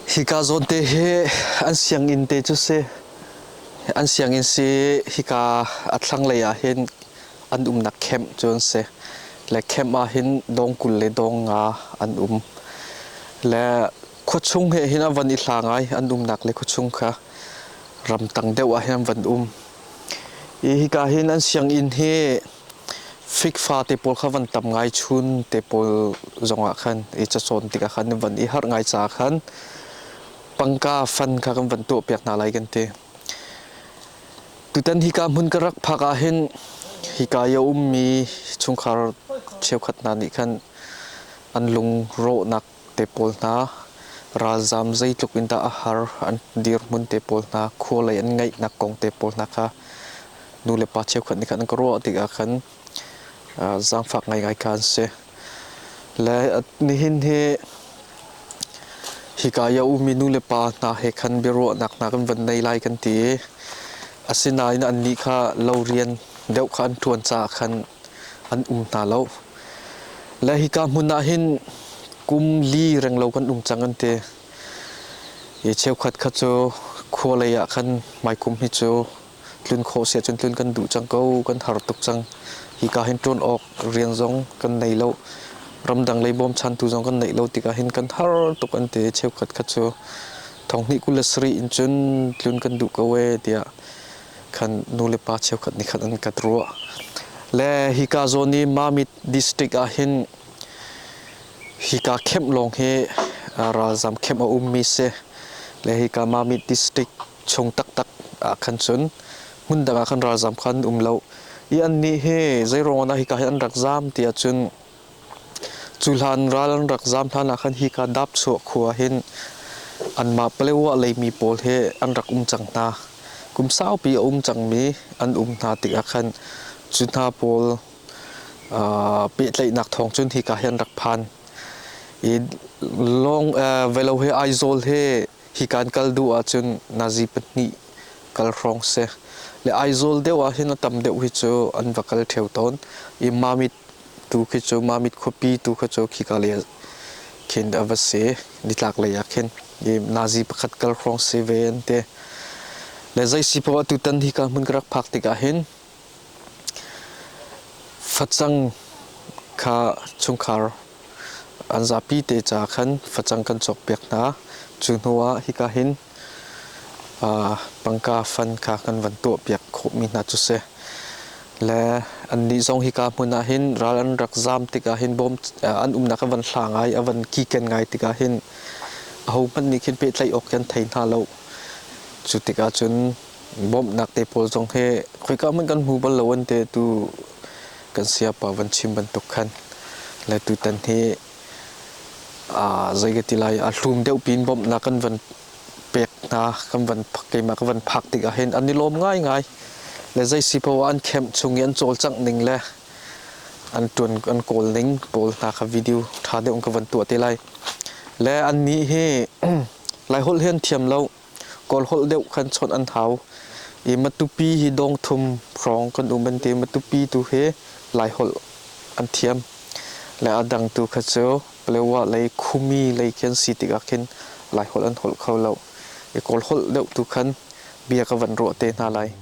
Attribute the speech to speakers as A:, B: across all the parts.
A: Hika zawtte hi an sianginn te cu si. An sianginn si hika a thlanglei ah hin an umnak camp cu an si. Le camp ah hin dawng kul le dawng nga an um. Le khuachung he hin a van i hla ngai an umnak le khuachung kha ramtang deuh ah hin an van um. Hi hika hin an sianginn hi fikfa te pawl kha van tam ngai chun te pawl zongah khan i cacawn tikah khan van i harh ngai caah khan pangka fan kha kan van tuahpiak hna lai kan ti. Tutan hika hmun ka rak phak ah hin hika i a ummi chungkhar cheukhat hna nih khan an lungrawhnak te pawl hna, ralzaam zeitluk in dah a har an dirhmun te pawl hna, khualei an ngeihnak kong te pawl hna kha nu le pa cheukhat nih khan an ka ruah tikah khan zaangfak ngaingai kha an si. Le nihin hi hika i a ummi nulepa hna he khan biaruahnak hna kan van nei lai kan ti i asinain annih kha lo rian deuh kha an ṭuan caah khan an um hna lo. Le hika hmun ah hin kum li renglo kan um cang an ti. I cheukhat kha cu khua lei ah khan maikum hi cu tlun khawh si ahcun tlun kan duh cang ko, kan har tuk cang. Hika hin ṭuan awk rian zong kan nei lo, ramdang lei bawmchantu zong kan neih lo tikah hin kan har tuk an ti i cheukhat kha cu thonghnih kul le sarih in cun tlun kan duh ko ee tiah khan nu le pa cheukhat nih khan an kat ruah. Le hika zawn i Mamit district ah hin hika camp lawng hi ralzam camp a ummi si. Le hika Mamit district chung taktak ah khan cun hmun dang ah khan ralzam kha an um lo i annih he zeiruangah dah hika hi an rak zam tiah cun cu hlan ral an rak zam hlan ah khan hika dapchuah khua hin anmah Palewa leimi pawl he an rak um cang hna kum saupi a um cangmi an um hna tikah khan cu hna pawl pehtlaihnak thawng cun hika hi an rak phan i long velo he aizawl he hi kan kal duh ahcun Nazi pahnih kal hrawng si. Le Aizawl deuh ahhin a tam deuh hi cu an va kal ṭheo tawn i Mamit tu khi cu Mamit khuapi tu khi cu khika lei ah khin a va si nitlak lei ah khin i Nazi pakhat kal hrawng si ve an ti. Le zei si poah tutan hi kan hmun ka rak phak tikah hin Facang kha chungkhar an zapi te caah khan facang kan cawkpiak hna. Cu hnu ah hika hin pangka fan kha kan van tuahpiak khawhmi hna cu si. Le annih zong hika hmun ah hin ral an rak zaam tikah hin bawm an umnak a van hla ngai, a van kiken ngai tikah hin ahohmanh nih khin pehtlaih awk hi an thei hna lo. Cu tikah cun bawmhnak te pawl zong hi khoika hmanh kan hmu bal lo an ti tu kan sayapa van chim bantuk khan le tutan hi aa zeigati lai aa hlum deuh piin bawmhnak kan van pek hna kan van keimah ka van phak tik ahhin an i lawm ngaingai le zeisi poah an camp chung i an cawlcangh ning le an tuan an kawl ning pawl hna kha video ṭha deuh ka van tuah te lai le an nih hi lai holh hi an thiam lo Kawlholh deuh khan chawnh an hau i Matupi hi dawng thum hrawng kan um an ti. Matupi tu hi Laiholh an thiam le a dang tu kha cu Palewa lei Khumi lei khi an si tikah khin Laiholh an holh kho lo i Kawlholh deuh tu khan bia ka van ruah te hna lai.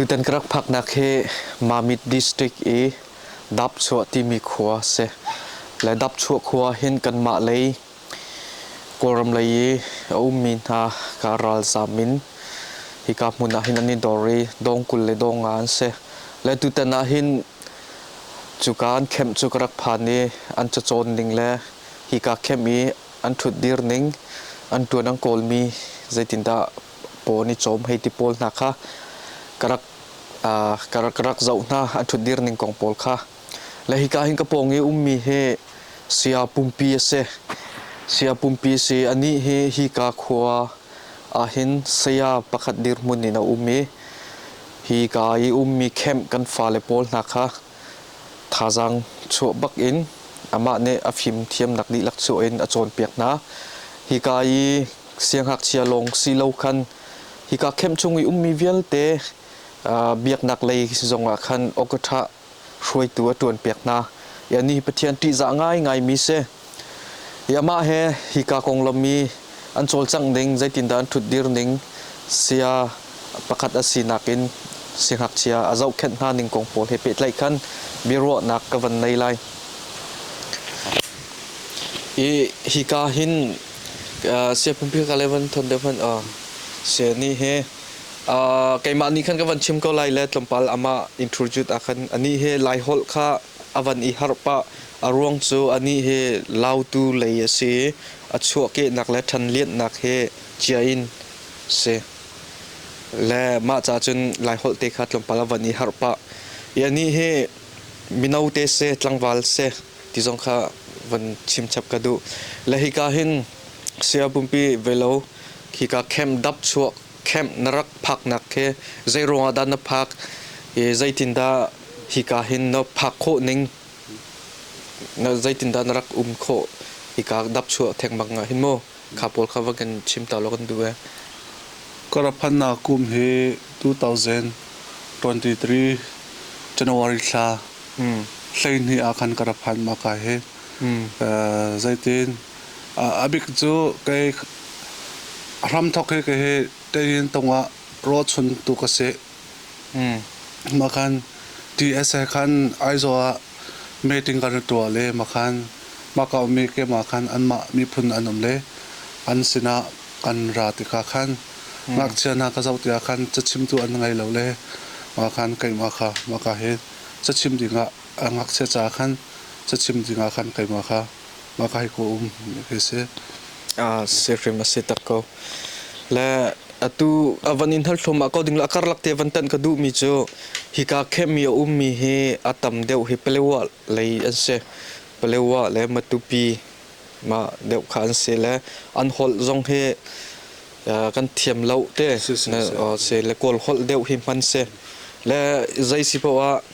A: Tutan ka rak phaknak hi Mamit District i Dapchuah timi khua a si. Le Dapchuah khua hin kanmah lei Kawlram lei i a ummi hna kaa ralzaam in hika hmun ah hin an i dor i dawng kul le dawng nga an si. Le tutan ah hin cuka an khemh cu ka rak phan i an cacawn ning le hika khemh i an ṭhutdir ning, an ṭuan an kawlmi zeitindah pawn i cawm hei ti pawl hna kha ka rak ka rak zoh hna an ṭhutdir ning kong pawl kha. Le hika hin ka pawng i ummi hi Sia pumpi a si. Sia pumpi a si. Anih hi hika khua ah hin saya pakhat dirhmun in a um i hika i ummi camp kan fale pawl hna kha thazaang chuah bak in amah nih a fimthiamnak dihlak chuah in a cawnpiak hna. Hika i sianghngakchia lawng si lo khan hika camp chung i ummi vialte biaknak lei zongah khan awk a ṭha hruaitu a ṭuan piak hna i anih Pathian ṭihzah ngaingaimi si. I amah he hika konglam i an cawlcangh ding zeitindah an ṭhutdir ning sia pakhat a sinak in singakchia a zohkhenh hna ning kong pawl he pehtlaih khan biaruahnak ka van ngei lai. I hika hin uh, sia phunphika le van thon deuh hmanh uh, sia ni he Uh, keimah nih khan ka van chim ko lai le tlawmpal amah introduce a khan ani he lai holh kha avan i harh pah a ruang cu ani he lautu lei a si a chuahkehnak le ṭhanlianhnak he chia in si le mah ca cun
B: lai holh te kha tlawmpal avan i harh pah i ani he mino te se tlangval se ti zong kha van chim chap ka duh le hika hin Saya Pumpi, velo khika camp dap chuah camp na rak phaknak khi zeiruangah dah na phak i zeitindah hika hin na phak khawh ning na zeitindah na rak um khawh hika dap chuah thengmang ah hin maw kha pawl kha va kan chim ta law kan duh e. Karaphannak kum hi 2023 January thla hleihnih ah khan karaphan maka hi zeitin A bik cu hramthawk hi Tein tung ah rawchun tu ka si. Makhan TSA khan Aizawl ah meeting kan i tuah le makhan Makau mi keimah khan anmah miphun an um le an sinah kan ra tikah khan ngakchia hna ka zoh tikah khan cachimtu an ngei lo le makhan keimah kha maka hi cachim dingah ngakchia caah khan cachim dingah khan keimah kha. Makai ko um ka
A: si. Ah si hrim a si tak ko. Le atu a van in hal thlum ah ko ding le a karlak te van tan ka duh mi cu hi ka camp mi a um mi hi a tam deuh hi palewa lei an si. Palewa le Matupi ma deuh kha an si le an holh zong hi ah, kan thiam lo te Si, si, si. Ah, si le kawl holh deuh hi hman si. Le zei si poah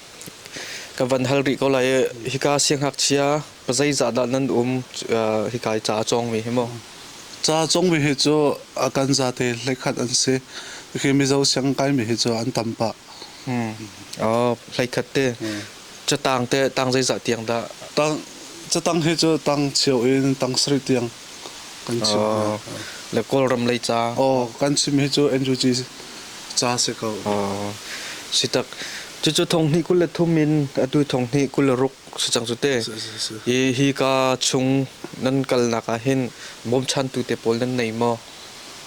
A: ka van hal rih ko
B: lai i hika siang hak chia Zeizahdah nan um hika i ca a cawngmi hi maw? Ca a cawngmi hi cu a kan zate hleikhat an si. Khi Mizo siangkaimi hi cu an tam pah.
A: Hmm. Oh, hleikhat te. Hmm. Catang te, tang zeizah tiang dah? Tang,
B: catang hi cu tang chio in tang sarih tiang kan chim. Oh,
A: le Kawlram lei ca? Oh, kan chim hi cu
B: NUG ca si ko. Oh, sitak. Cucu thong hnih kul le thum
A: in atu thong hnih kul le ruk si cang cu te hi hi ka chung nan kalnak ah hin bawmchantu te pawl nan nei maw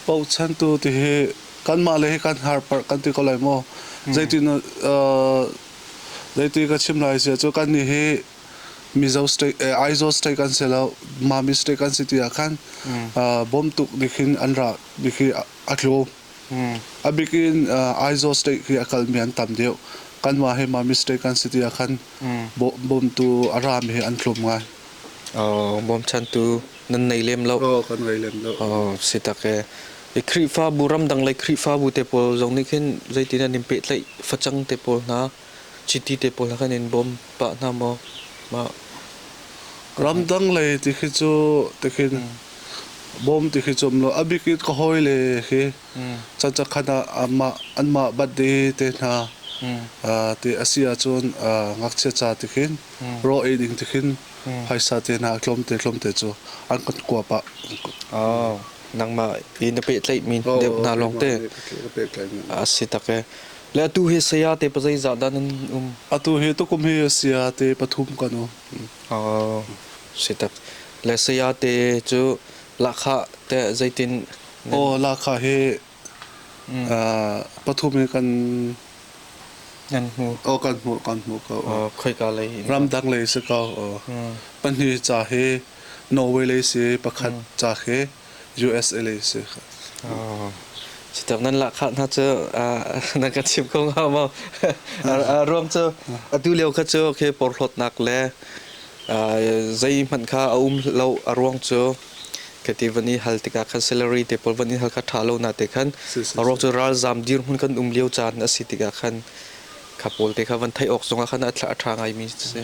A: bochantu ti hi kanmah le hi kan har parh kan ti ko lai maw hmm.
B: zeiti zeiti ka chim lai sia cu kan ni hi mizo state aizawl state kan si lo mami state kan si ti ah khan bawm tuk dikhin an ra dikhi a tlu A bik in Aizawl State khi a kalmi an tam deuh.
A: Kanmah hi Mami State kan si tiah khan bawmtu a rami hi an thlum ngai. Bawmchantu nan nei lem lo. Oh, kan ngei
B: lem lo. Oh, si tak ee. I Khrihfabu ramdang le Khrihfabu
A: te pawl zong nih khin zeitin an in pehtlaih facang te pawl hna? Chiti te pawl kan in bawm pah hna maw? Mah ramdang lei ti khi cu ti
B: khin bawm ti khi cu lo a bik in ka hawi le khi chan chan khan ah anmah anmah bat de te hna ti a si ahcun ngakchia ca ti khin rawh ei ding ti khin phaisa te hna tlawmte
A: tlawmte cu an kan kua pah. Nangmah i na pehtlaih mi deuh hna lawng te a si tak ee. Le atu hi saya te pa zeizah dan
B: an um? Atu hi tukum hi saya te pathum kan um. Oh,
A: sitak. Le saya te cu lakha te zeitin? Oh,
B: lakha hi uh, pathum hi kan
A: Nan hmu. Oh, kan hmu, kan
B: hmu ko. Oh, khoi ka lei.
A: Ramdang lei si ko. Oh.
B: Pahnih ca hi Norway lei si, pakhat ca khi usa si Sitak nan lahkhah hna cu na ka chim ko
A: nga maw ruam cu atu lio kha cu okay porhlawtnak le zei hmanh kha a um lo a ruang cu kati van i hal tikah khan salary te pawl van i hal kha tha lo na te khan a ruang cu ralzam dir hun kan um lio caan a si tikah khan kha pawl te kha van theih awk zongah khan a tha ngai mi si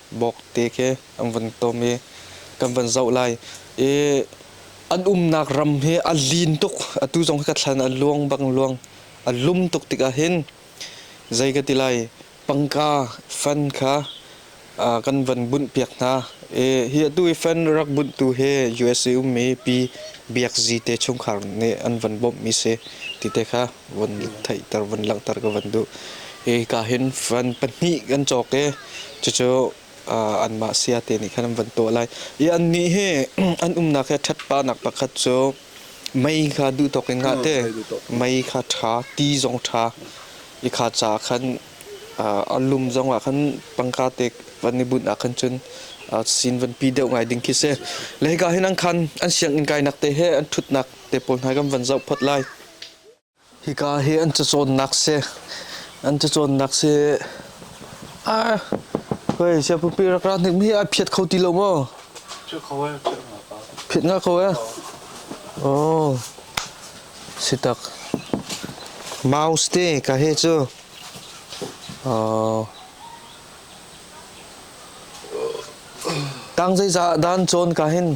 A: bawkte khi an vun tom i kan van zoh lai i an umnak ram hi a lin tuk atu zong hi ka thlan a luang bang luang a lum tuk tikah hin zei ka ti lai pangka fan kha kan van bunh piak hna i hi atu i fan rak bunh tu hi USA ummi pi biak zi te chungkhar nih an van bawmh mi si ti te kha von theihter von langhter ka van duh hika hin van pahnih kan cawk i cucu anmah sia te nih khan an van tuah lai i annih hi an umnak hi ṭhatpanak pakhat cu mei kha duhthawk in ngah te mei kha ṭha ti zong ṭha i kha ca khan a lum zong ah khan pangka te van i bunh ah khan cun sin van pi deuh ngai ding khi si le hika hin an khan an sianginn kainak te he an ṭhutnak te pawl hna kan van zoh phot lai Hika hi an cacawnnak si. An cacawnnak si. Ar! Hoi, siapupi rak ra hnik mi hi a phiat kho ti lo maw?
B: Phiat kho e, phiat nga ka. Phiat nga kho e? Oh. Si tak.
A: Mouse te, ka he cu. Oh.
B: Tang zeiza dan cawn ka hin.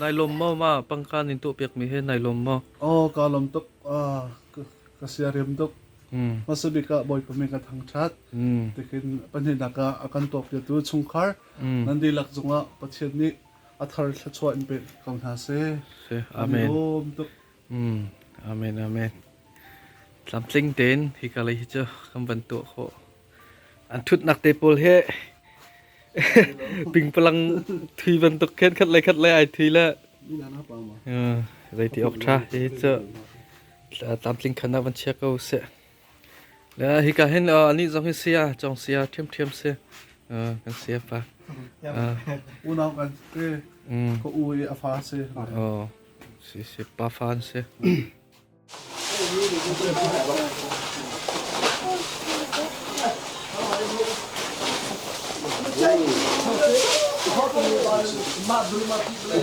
A: Nai lawm maw ma pangkan in tuh piak mi he nai lawm maw? Oh ka lom tuk
B: ah ka sia riam tuk. Hmm. Masabik ah boy pami ka thang chat. Hmm. Tikin pahnih naka akan tuak dia tu chungkhar. Hmm. Nandi lak zungah pathian ni athar thlachuah in pe ko hna se. Amen.
A: Lom tuk.
B: Amen,
A: amen. Tlamtling tein hi kalei hi cu kan van tuah khawh. An thutnak te pawl he pingpalang thui bantuk khan khat lai khat lai ai thui la.
B: Zeiti ok
A: tha hi cu tlamtling khana van chia ko seh. Uh, hika hin uh, ani zong hi sia chong sia thiam thiam se uh, kan sia pa
B: unau kan te ko u i afa se oh si
A: si pa fan se Ma dulu ma ti play.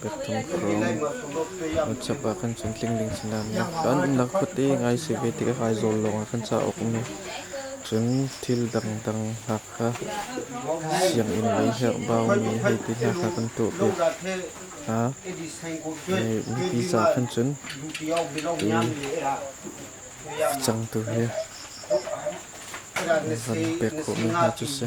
A: Pekchung thawng WhatsApp ah kan chantling ding thinhunnak ah nunnak khuate ngai si ve tikah Aizawl lawng ah kan cauk um lo. Cun thil dangdang Hakha sianginn lei herhbaumi hei ti hna kha kan tuah ve hna. Mipi ca khan cun cangtu he van pek khawhmi hna cu si.